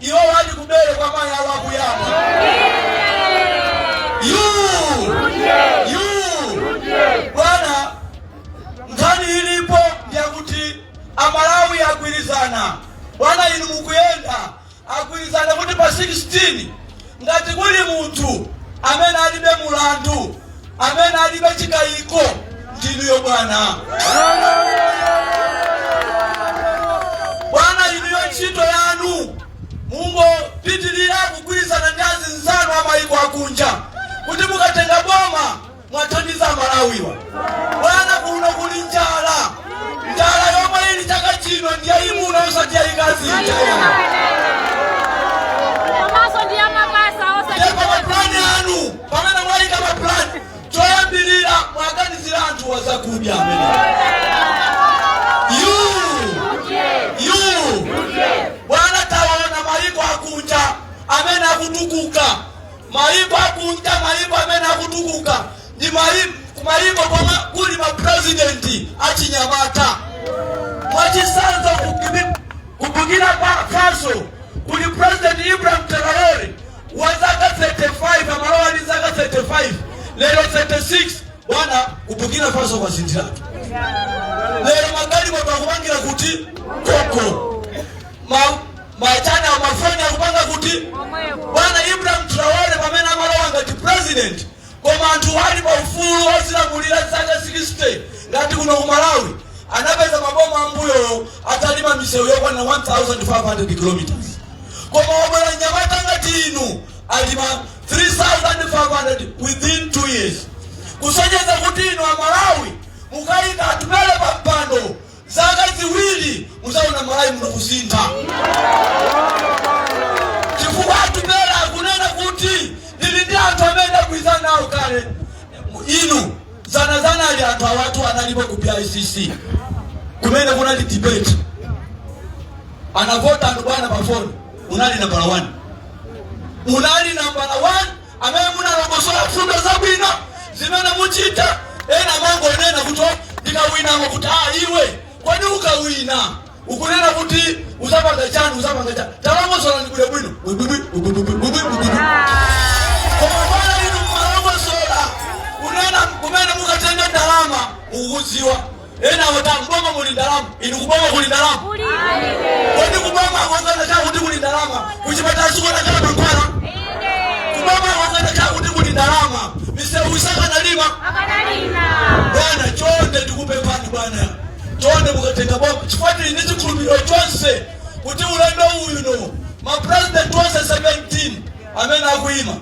Iwo wati ubale kwa mayi awo akuyamba. Yu! Yu! Bwana, nkhani ilipo ndi yakuti Amalawi agwirizana. Bwana inu mukuyenda, agwirizana kuti pa 16 Ngati kuli munthu amene alibe mulandu, amene alibe chikaiko, ndinuyo bwana. Bwana inuyo ntchito yanu mungopitilira kugwirizana ndi azinzanu a maiko akunja kuti mukatenga boma muwathandize amalawiwa bwana kuno kuli njala njala yomwe ili chaka chino ndiyayimuna osati yayikazi komanso ndi amapasa osati ndipo mapulani anu pamene mwayika mapulani choyambirira mwaganizira anthu wazakudya amene yu yu bwana taona mayiko akunja amene akutukuka Mayiko akunja, mayiko amene akutukuka ndi mayiko komwe kuli ma president achinyamata. Mwachitsanzo ku Burkina Faso kuli president Ibrahim Traore wa zaka 35 amalowa ndi zaka 35 lero 36 bwana ku Burkina Faso kwasinthiratu lero magalimoto akupangira kuti koko ma Matani mafoni akupanga kuti? Bwana Ibrahim Traore pamene amalowa ngati president koma anthuwa ali pa ufulu ozilamulira zaka 60 ngati kuno ku Malawi anapeza maboma ambuyowo atalima misewu yokwana 1500 kilometers koma wabwera nyamata ngati inu alima 3500 within 2 years kusonyeza kuti inu a Malawi mukayika atupele pa mpando zaka ziwili muzaona malawi muno kusintha chifukwa atupele akunena kuti ndili ndi anthu amene ndagwirizana nawo kale inu zanazana ali anthu awatu analipo ku bicc kumene kunali debate anavota anthu bwana pafoni unali nambala 1 unali nambala 1 amene munalongosola mfundo zabwino zimene muchita. Ena amangonena kuti "Oh, ndikawinako kuti iwe kodi ukawina ukunena kuti uzapanga chani uzapanga chani talongosolani bwino bwino bwibwibwi bwibwibwi bwibwibwi koma bwana inu mmalongosola kunena kumene mukatenga ndalama mukuziwa Ena amati akuboma muli ndalama. Inu kuboma kuli ndalama? Kodi kuboma kwakanakhala kuti kuli ndalama, kuchipatala sikukanakhala mankhwala? Kuboma kwakanakhala kuti kuli ndalama, misewu isakanalimba? Bwana, chonde ndikupemphani bwana, chonde mukatenga boma, chifukwa ndili ndi chikhulupiriro chonse kuti ulendo uno ma president onse 17 amene akuima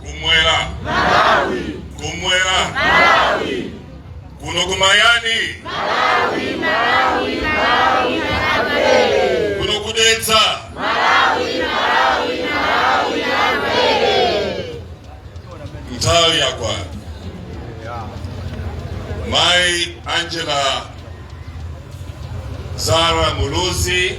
kumwera malawi kumwera malawi kuno kumayani malawi malawi malawi kuno kudetsa malawi malawi malawi nthawi yakwana mai angela zara muluzi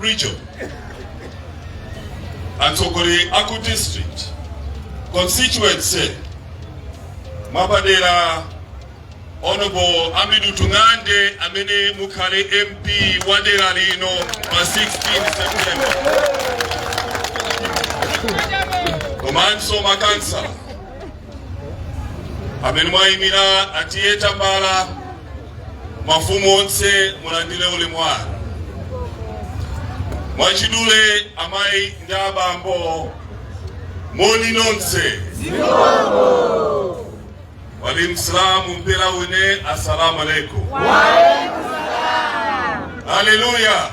region atsogoleri a ku district constituency mwapadera honorable Hamidu Tung'ande amene mukhale mp wa dera lino pa 16 september komanso makansala amene mwayimira a Tiye Tambala mafumu onse mulandire ulemu wanu mwachidule amayi ndi abambo moni nonse wa alaikum salam mpira wine assalamu alaikum haleluya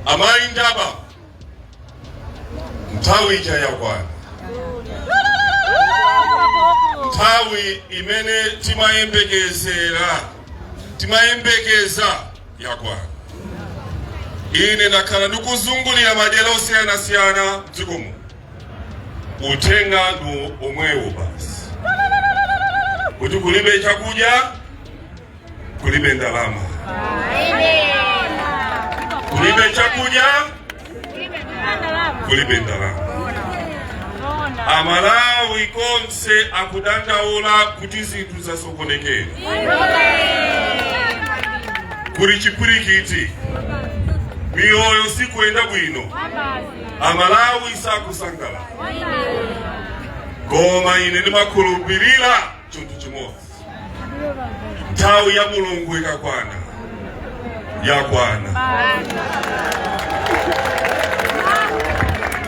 amayi ndi abambo nthawi ija yakwana nthawi imene timayembekeza yakwana ine ndakhala ndikuzungulira madera osiyanasiyana mdziko muno uthenga ndi womwewo basi kuti kulibe chakudya kulibe ndalama, kulibe chakudya, kulibe ndalama. Amalawi konse akudandaula kuti zinthu zasokonekera kuli chipwirikiti, miyoyo sikuyenda bwino, Amalawi sakusangala. Koma ine ndimakhulupirira chinthu chimodzi nthawi ya mulungu ikakwana yakwana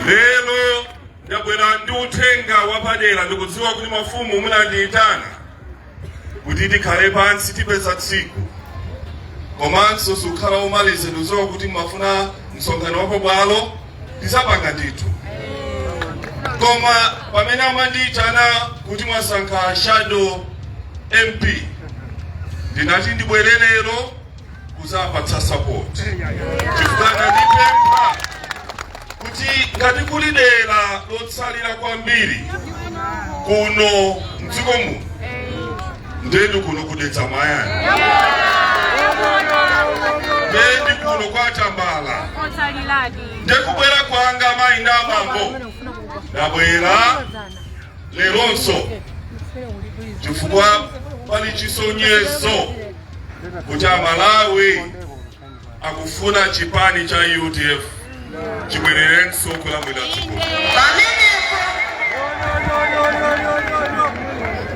lero ndabwera ndi uthenga wapadera ndikudziwa kuti mafumu munandiyitana kuti tikhale pansi tipeza tsiku komanso siukhala womaliza ndikudziwa kuti mumafuna msonkhano wapabwalo Tidzapanga ndithu. Koma pamene amandiitana kuti mwasankha a shadow MP, ndinati ndibwere lero kudzapatsa support chifukwa anandipempha kuti ngati kuli dera lotsalira kwambiri kuno mdziko muno ndeni kuno kudetsa mwayani ndeni kuno kwatambala ndekubwera kwanga amayi ndi abambo ndabwera leronso chifukwa pali chisonyezo kuti amalawi akufuna chipani cha udf chibwererenso kulamulira dziko pamenepo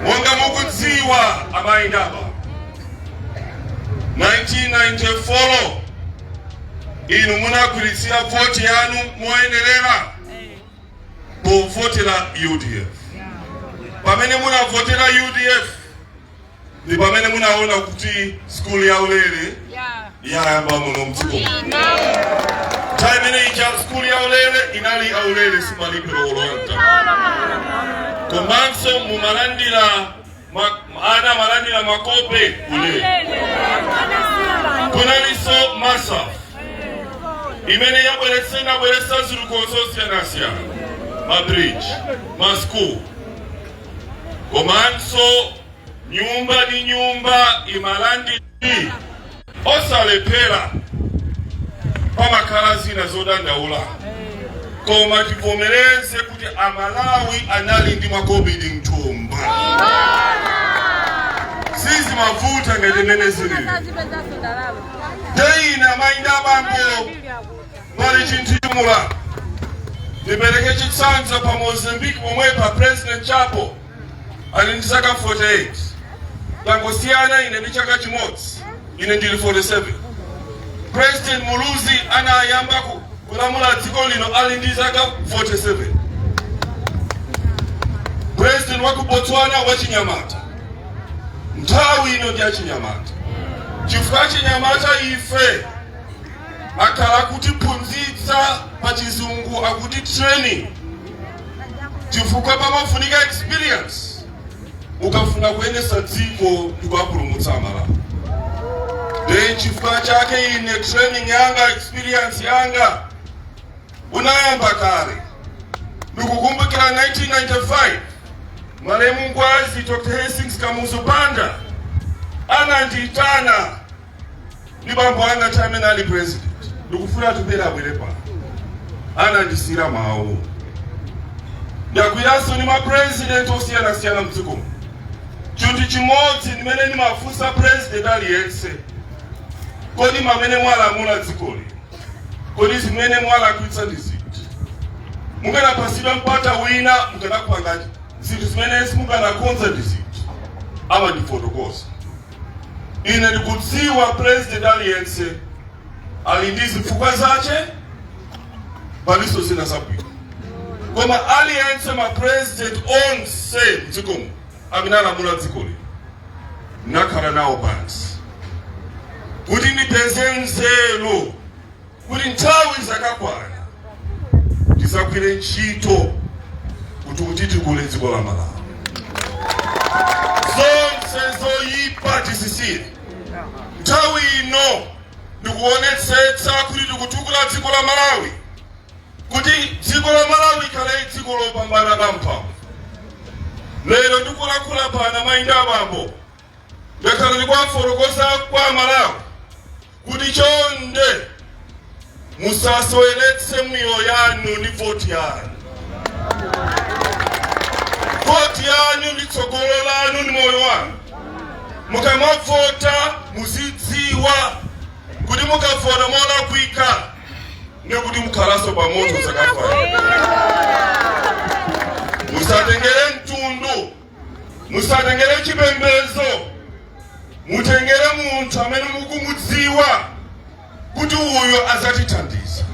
monga mukudziwa amayi ndi abambo 1994 inu munagwiritsira vote yanu moyenerera povotera udf pamene munavotera udf ndi pamene munaona kuti skulu ya ulere yayamba muno mdziko nthawi imene ija skulu ya ulere inali ya ulere simalipiro ayi olonta komanso mumalandira ma- ana amalandira makope ulere kunalinso masaf imene yabweretse inabweretsa zinthu zosiyanasiyana mabridge maschool komanso nyumba ndi nyumba imalandira osalephera pamakhala zina zodandaula koma tivomereze kuti amalawi anali ndi makobidi mthumba sizimavuta ngati mmene zilili leroli amayi ndi abambo Pali chintchito. Ndipereke chitsanzo pa Mozambique pomwe pa President Chapo ali ndi zaka 48. Tangosiyana ine ndi chaka chimodzi. Ine ndili 47. President Muluzi anayamba ku- kulamula dziko lino ali ndi zaka 47. President wa ku Botswana wachinyamata. Nthawi ino ndi ya achinyamata. Chifukwa achinyamata ife akhala akutiphunzitsa pa chizungu akuti training chifukwa pamafunika experience ukafuna kuyendesa dziko ndikuwapulumutsa amalawi nde chifukwa chake ine training yanga experience yanga unayamba kale ndikukumbukira 1995 malemu ngwazi dr hastings kamuzu banda anandiyitana ndi bambo anga ti amene ali president ndikufuna atupele abwere apa anandisiyira mawu ndakhalanso ndi mapresident osiyanasiyana mdzikomo chinthu chimodzi ndimene ndimafunsa president aliyense kodi mamene mwalamula dzikoli kodi zimene mwalakwitsa ndi ziti mukanapasidwa mpata wina mukanakupanga zinthu zimene simukanakonza ndi ziti amandifotokoza Ine ndikudziwa president aliyense ali ndi zifukwa zace, palinso zina zabwino, koma aliyense ma president onse mdzikomo amene alamula dzikoli nakhala nawo pansi kuti ndipeze nzeru kuti nthawi izakakwana tizagwire ntchito kuti kuti tikule dziko la malawi zonse zoyipa tizisiye nthawi ino ndikuonetsetsa kuti tikutukula dziko la malawi kuti dziko la malawi ikhale dziko lopambana lamphamvu lero ndikulankhula pano amayi ndi abambo ndakhala ndikuwafotokoza kwa amalawi kuti chonde musaseweretse miyoyo yanu ndi voti yanu voti yanu ndi tsogolo lanu ndi moyo wanu mukamavota muzidziwa kuti mukavota molakwika ndikuti mukhalanso pamoto zaka five musatengere mtundu musatengere chipembedzo mutengere munthu amene mukumudziwa kuti uyu azatithandiza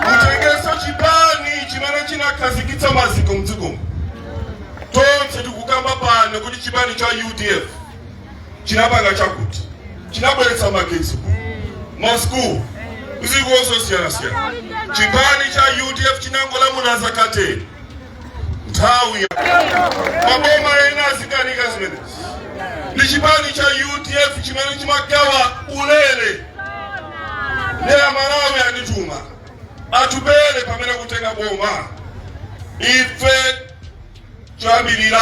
mutengenso chipani chimene chinakhazikitsa maziko mdzikomo tonse tikukamba pano kuti chipani cha udf chinapanga chakuti chinabweretsa magetsi ku masukulu zitukuko zosiyanasiyana chipani cha udf chinangolamula zaka ten nthawi maboma ena azikanika zimenezi ndi chipani cha udf chimene chimagawa ulere ndi amalawi andituma atupele pamene kutenga boma ife choyambirira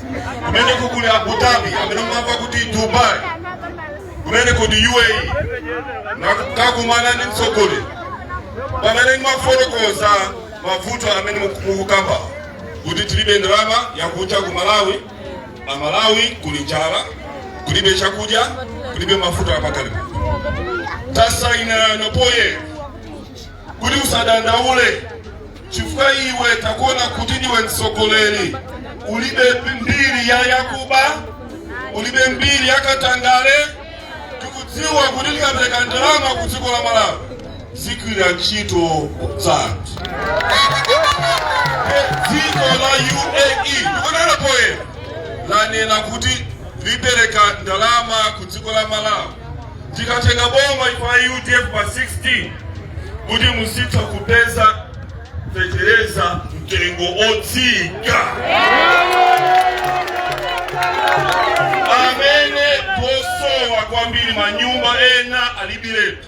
kumeneko kuli Abu Dhabi amene mumamva kuti Dubai kumeneko ndi UAE nakakumana ndi mtsogoleri pamene nawafotokoza mavuto amene mukukamba kuti tilibe ndalama yakunja ku Malawi a Malawi kuli njala kulibe chakudya kulibe mafuta apakalipo tasainirana poye kuti usadandaule chifukwa iwe takuona kuti ndiwe mtsogoleri ulibe mbiri ya yakuba ulibe mbiri ya katangale tikudziwa kuti tikapereka ndalama ku dziko la malawi zigwira ntchito zanthu dziko la uae ndikunena poyera lanena kuti lipereka ndalama ku dziko la malawi tikatenga boma ife a udf pa 16 kuti muzitha kupeza fetereza mtengo otsika amene posowa kwambiri manyumba ena alibiretu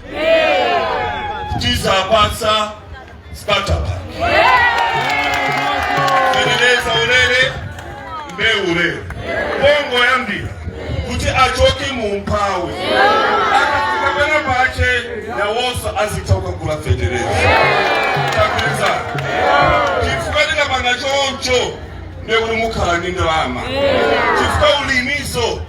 tizapatsa starter pack fetereza ulele mbewu ulele pongoyambira kuti achoke mu umphawi akafika pena pache nawonso azitha kukagula fetereza tapeza chifukwa tikapanga choncho ndekuti mukhala ndi ndalama chifukwa ulimiso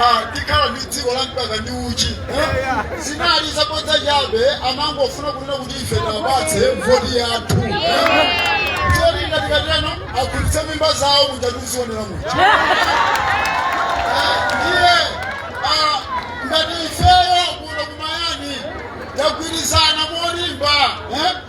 ah, tikhala ndi dziko la mkaka ndi uchi eh? zinali zabodza chabe amangofuna kunena kuti ife tapatse voti yathu cholinga tikateno akulitse mimba zawo muja tikuziwonera muja Eh, ndiye ah, ngati ifeyo kuno kumayani tagwirizana molimba eh?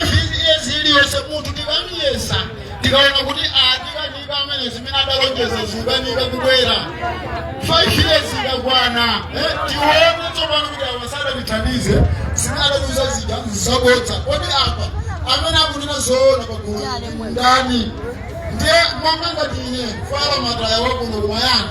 five years iliyonse munthu tikamiyesa tikaona kuti atikanika amene zimene adalonjeza zikukanika kubwera five years ikakwana eh, tione tsopano kuti awa sadatithandize zimene adatiuza zija nzabodza kodi apa amene akunena zoona pagulu ndani ndiye monga ngati ine fala mataya wakuno kumayani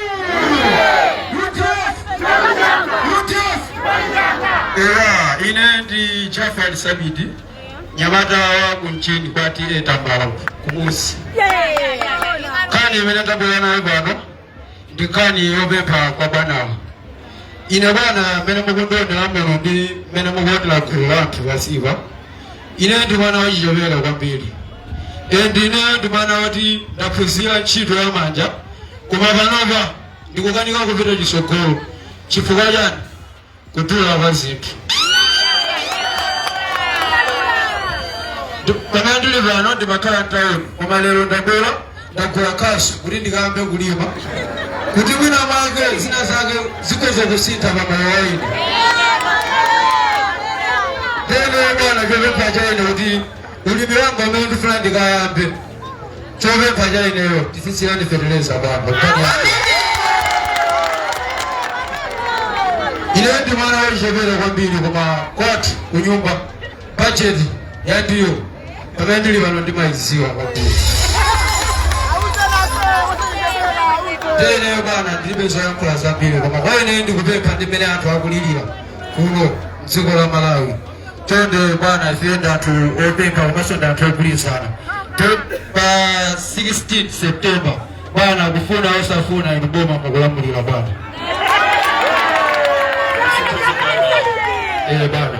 Eya, ine ndi Jafar Sabidi nyamata wa kumchini kwa TA Tambala kumusi nkhani imene tabwera nayo pano ndi nkhani yopempha kwa bwanawa ine bwana mmene mukundionera lero ndi mmene mukuonera gulu la anthu pasipa Ineyo ndi mwana wachichepere kwambiri and ineyo ndi mwana woti ndaphunzira ntchito ya manja koma panopa ndikukanika kupita chitsogolo chifukwa chani kudula kwa zinthu Ndi- pamene ndili pano ndimakhala mtawuni koma lero ndabwera ndagula khasu kuti ndikayambe kulima kuti mwina mwake zina zake zikhoza kusintha pa moyo waine tene bwana chopempha chaine kuti ulimi wanga umene ndifuna ndikayambe chopempha chaineyo tisisirani feteleza bwana ine ndi mwana wachipere kwambiri koma kwathu kunyumba bajeti yandiyo pamene ndili pano ndimayidziwa kwambiri teneyo bwana ndilibe zoyankhula zambiri koma kwa ine ndikupempha ndi mmene anthu akulirira kuno mdziko la malawi chonde bwana ife ndi anthu opempha komanso ndi anthu ogwirizana To- pa 16 september bwana kufuna osafuna inu boma mukulamulira bwana eh bwana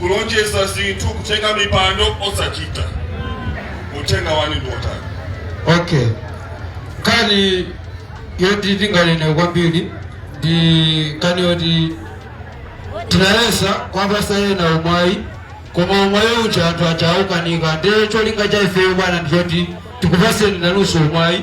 kulonjeza zinthu kutenga mipando osachita uthenga wanu ndi otani okay nkhani yoti tinganene kwambiri ndi nkhani yoti tinayesa kwapasa ena umwayi koma umwayi uja anthu aja aukanika ndiye cholinga cha ifeyo bwana ndiyoti tikupaseni nanunso umwayi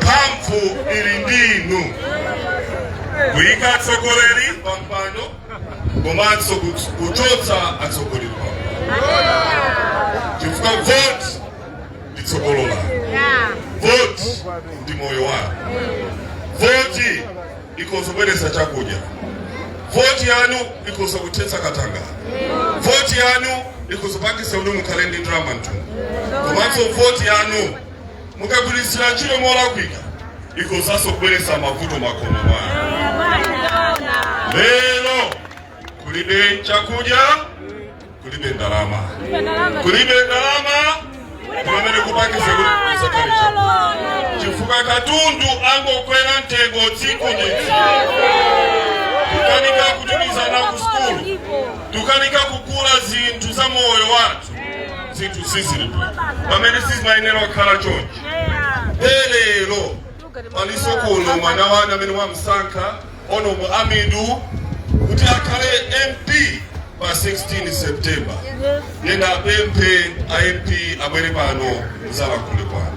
mphamvu ili ndi inu kuyika atsogoleri pa mpando komanso kut- kuchotsa atsogoleri pa chifukwa voti ndi tsogolo lanu voti ndi moyo wanu voti ikhoza kubweretsa chakudya voti yanu ikhoza kuthetsa katanga voti yanu ikhoza kupangitsa kuti mukhale ndi ndalama mthumba komanso voti yanu mukagwiritsira ntchito molakwika ikhozanso kubweretsa mavuto makomo mwanu lero kulibe chakudya kulibe ndalama kulibe ndalama kumene kupangisa kuti kusakhale chakudya chifukwa katundu angokwera mtengo tsiku ndi tsiku tukanika kutumiza ana ku sukulu tukanika kugula zinthu za moyo wathu zinthu sizili bho pamene sizimayenera kukhala chonchi lero paliso kuno mwana wanu amene wamsankha Honorable Amidu kuti akhale MP pa 16 September. Ndiye ndiwapemphe a MP abwere pano mudzalankhule kwanu.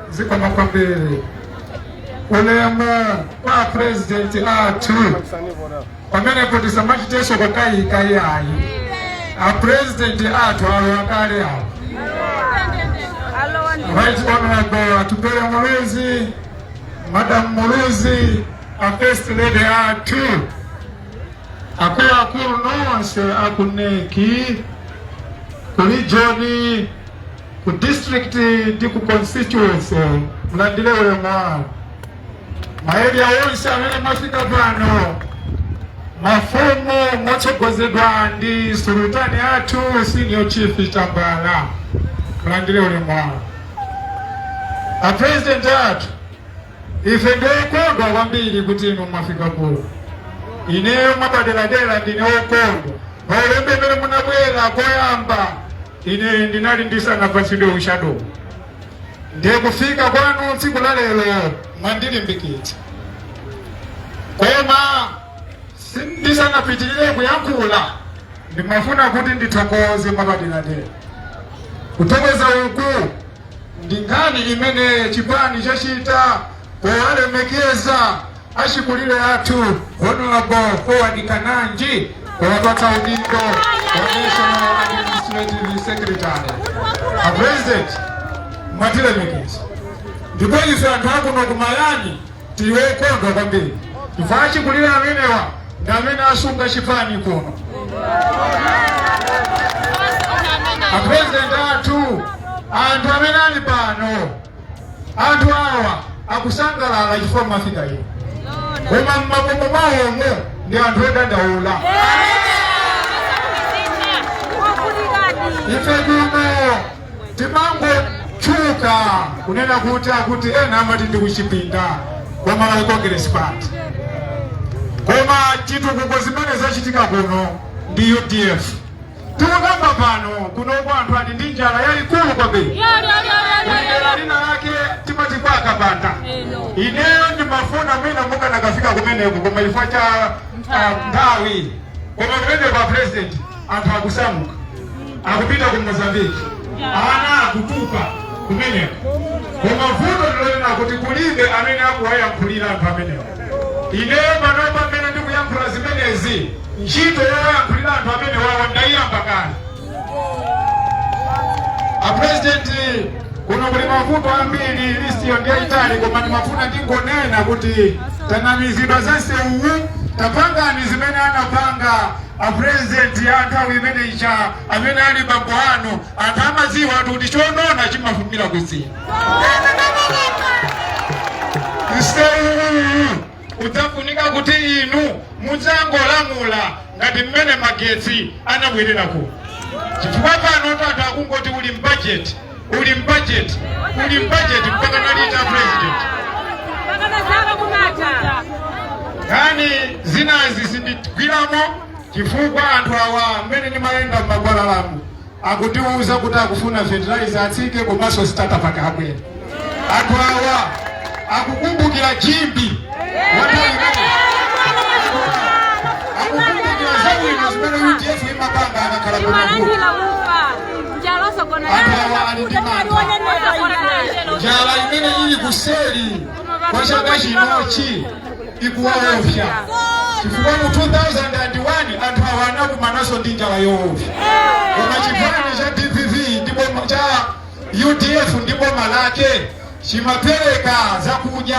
zikomo kwambiri ulemu kwa apresidenti athu pamenepo tisamachitenso kukayika iyayi apresidenti athu awo akale awo right honourable atupele muluzi madam muluzi a first lady athu akuluakulu nonse akuneki kuli joni Ku district ndi ku constituency mulandire ulemu wanu. Ma area onse amene mwafika pano, mafumu motsogozedwa ndi sulutani athu senior chief Tambala, mulandire ulemu wanu. A president athu Ife ndi okondwa kwambiri kuti inu mwafika kuno. Ineyo mwapaderadera ndine okondwa paulendo umene munabwera koyamba, ine ndinali ndisanapatsidwe ushadowu ndiye kufika kwanu tsiku la lero mwandilimbikitsa, koma ndisanapitirire kuyankhula ndimafuna kuti ndithokoze mwapaderadera kuthokoza uku Ndi nkhani imene chipani chachita powalemekeza achikulire athu Hon. Forward Kananji powapatsa udindo wa National Administrative Secretary. A President mwatilemekeza ndipo ife anthu akuno ku Mayani Tili okondwa kwambiri chifukwa achikulire amenewa ndi amene asunga chipani kuno. Apurezidenti athu, anthu amene ali pano, anthu awa akusangalala chifukwa mwafika inu, koma m'makomo mwawomo ndi anthu odandaula. Ife kuno Timangotchuka kunena kuti akuti ena amati ndi kuchipinda kwa Malawi Congress Party, koma zitukuko zimene zachitika kuno ndi udf. Tikukamba pano kunoko anthu ali ndi njala yayikulu kwambiri. Kuli dera lina lake timati kwa Kapanda. Ineyo ndimafuna mwina mukanakafika kumeneko koma chifukwa cha ah, nthawi koma kumeneko a president anthu akusamuka akupita ku mozambiki ana akutupa kumeneko koma vuto ndilonena kuti kulibe amene akuwayankhulira anthu amenewo ineyo panopa mmene ndikuyankhula zimenezi ntchito yowayankhulira anthu amenewawa ndayiyamba kale apurezidenti kuno kuli mavuto ambiri listiyo ndiyayitali koma ndimafuna ndingonena kuti tanamizidwa za nsewuwu tapangani zimene anapanga A president a nthawi imene ija amene ali bambo anu anthu amadziwa ati kuti chonona chimafumira kudzina udzafunika kuti inu mudzangolamula ngati mmene magetsi anabwerera kuno chifukwa pano tata akungoti uli mbajeti uli mbajeti uli mbajeti mpaka nalita president nkhani zinazi sindigwiramo chifukwa anthu awa mmene ndimayenda m'magwalalamu akutiwuza kuti akufuna fertilizer atsike komanso starter pack abwere anthu awa akukumbukira chimbi akukumbukira zabwino zimene udf imapanga akakhala kumavuto anthu awa ali ndi mantha. njala imene ili kuseri kwa chaka chinochi ikuwaofya chifukwa mu 2001 anthu awa anakumanaso ndi njala yoofya koma chipani cha dpp ndipo cha udf ndi boma lake chimapereka zakudya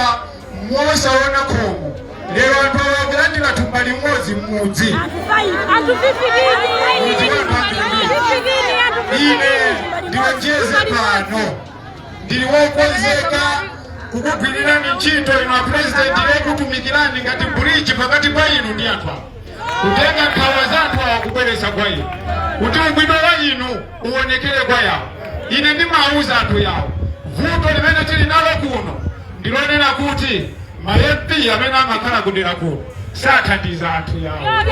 mosaona khomo lero anthu awa akulandira thumba limodzi m'mudzi ine ndilonjeze pano ndili wokonzeka kukugwirirani ntchito inu a purezidenti yokutumikirani ngati bridge pakati pa inu ndi anthu awa kutenga nkhawa za anthu awa kubweretsa kwa inu kuti ubwino wa inu uwonekere kwa awa. Ine ndimawuza anthu awa vuto limene tili nalo kuno ndi lonena kuti ma MP amene amakhala ku dera kuno sathandiza anthu awa.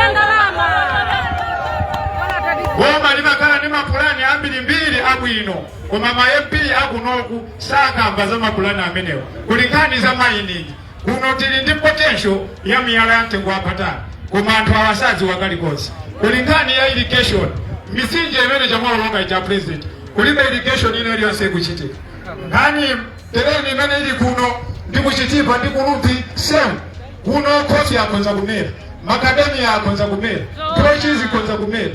Boma limakhala ndi mapulani ambirimbiri abwino koma ma MP akunoku sakamba za mapulani amenewa kuli nkhani za mining Kuno tili ndi potential ya miyala ya mtengo wapatali koma anthu awa sadziwa kalikonse. Kuli nkhani ya irrigation, mitsinje imene chamwalonga ija president, kulibe irrigation ina iliyonse ikuchitika. Ngati terrain imene ili kuno ndi ku Chitipa ndi kulupi same kuno khofi akhonza kumera makadamiya akhonza kumera nthochi zikhonza kumera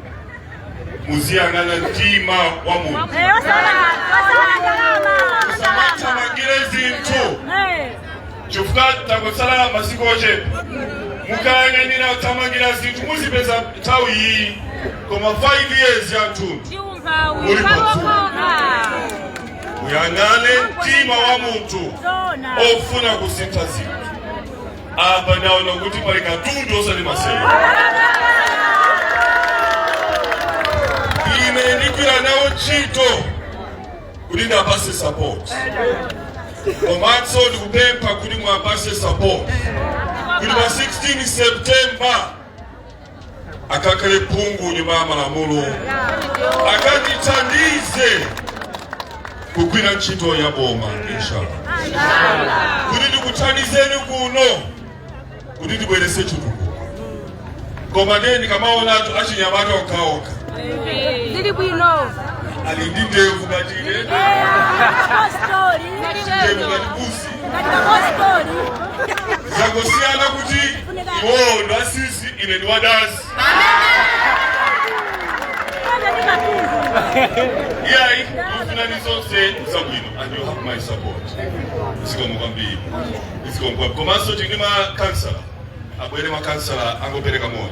muziyang'ana mtima wa munthu musamathamangire zinthu chifukwa tangotsala masiku ochepa mukayang'anira kuthamangira zinthu muzipedza nthawi iyi koma 5 years yathunthu muli patsuwa muyang'ane mtima wa munthu ofuna kusintha zinthu Apa ndaona kuti pali katundu osati masewera. Ine ndigwira nawo ntchito kuti ndapase support. Komanso ndikupempha kuti mwapase support. Kuti pa 16 September akakhale phungu nyumba ya malamulo akandithandize kugwira ntchito ya boma inshallah kuti ndikuthandizeni kuno kuti tibwerese chitukuko koma ndiye ndikamaona anthu achinyamata okhaokha ali ndi ndevu ngati ine ndevu ngati busi zangosiyana kuti iwowo ndi atsitsi ine ndi wadazi iyayi tikufunirani zonse zabwino and you have my support zikomo kwambiri zikomo kwambiri komanso tili ndi makansala abwere makansala angopereka moni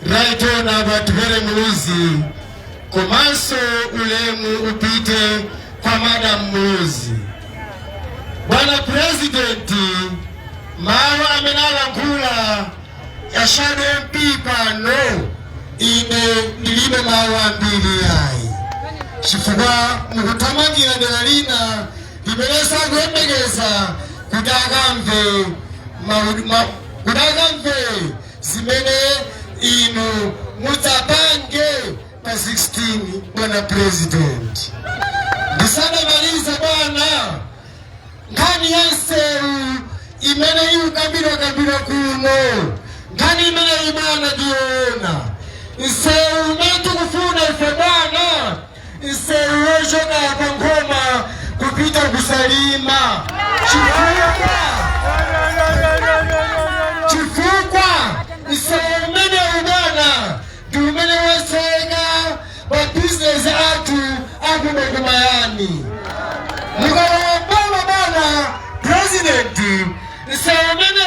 Right on Atupele Muluzi, komanso ulemu upite kwa Madam Muluzi. Bwana Presidenti, mawu amene alankhula a Shadow MP pano ine ndilibe mawu ambiri ayi chifukwa mukuthamangira dera lina limenenso akuyembekeza kuti akamve kuti akamve zimene inu mudzapange pa 16 bwana president ndisanamalize bwana nkhani ya nsewu imene ikukambidwa kambidwa kuno nkhani imeneyi bwana ndi yoona nsewu umene tikufuna ife bwana Nsewu wochoka pa Nkhoma kupita ku Salima chifukwa nsewu umenewu bwana ndi umene watseka mabizinesi athu akuno ku Mayani mukalowa boma bwana purezidenti nsewu umene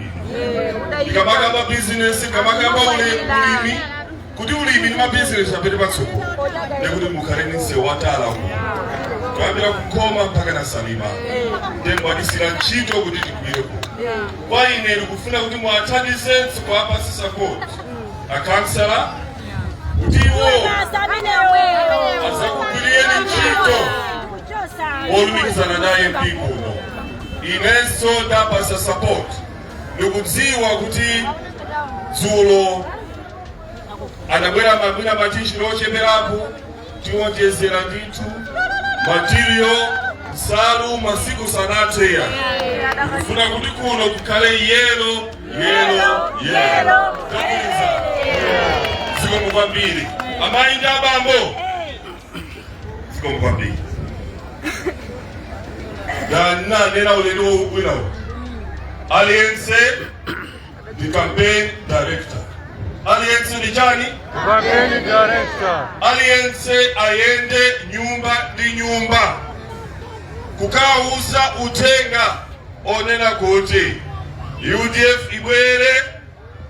tikamakamba bizinesi tikamakamba ulimi kuti ulimi ndi mabizinesi apite patsogolo ndekuti mukhale ndi msewu wa tala uko kuyambira ku Nkhoma mpakana Salima nde mwatisiyira ntchito kuti tigwire kuno kwa ine ndikufuna kuti muwathandize kuwapasa sapoti akansala kuti iwo azakugwiriyeni ntchito olumikizana naye mpingo Inenso ndaapatsa support ndikudziwa kuti dzulo anabwera mwina ma T-shirt ocheperapo tiwonjezera ndithu material nsalu masiku sanathe kufuna kuti kuno kukhale yelo yelo yelo tamaliza zikomo kwambiri amayi ndi abambo zikomo kwambiri ndanena ulendo uno uno aliyense ndi campaign director aliyense ndi chani Campaign director. aliyense ayende nyumba ndi nyumba kukauza uthenga onena kuti udf ibwere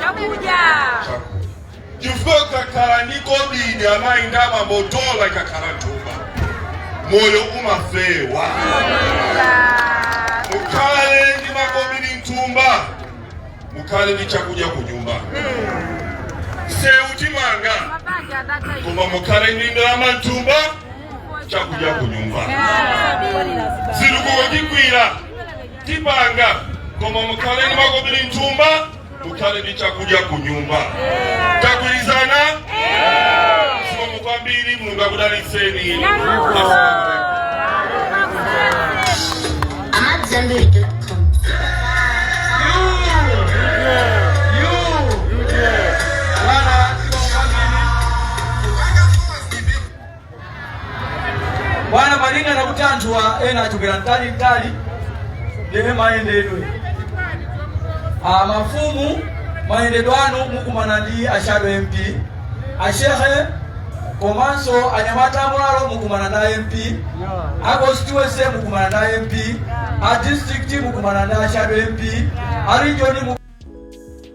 chakudya chifukwa kakhala ndi kobidi amayi ndi abambo dola ikakhala m'thumba moyo umafewa mukhale ndi makobidi m'thumba mukhale ndi chakudya ku nyumba msewu timanga mabanja atatha izi koma mukhale ndi ndalama m'thumba chakudya ku nyumba zitukuko tigwira tipanga koma mukhale ndi makobidi m'thumba mukhale ndi chakudya ku nyumba tagwirizana zikomo kwambiri mulungu akudalitseni bwana malinga ndi kuti anthuwa ena achokera kutali mtali ndiye mayendedwe a mafumu mayendedwe anu mukumana ndi ashado mp ashehe komanso anyamata amwalo mukumana ndi mp a constituency mukumana ndi mp a district mukumana ndi ashado mp a region mukumana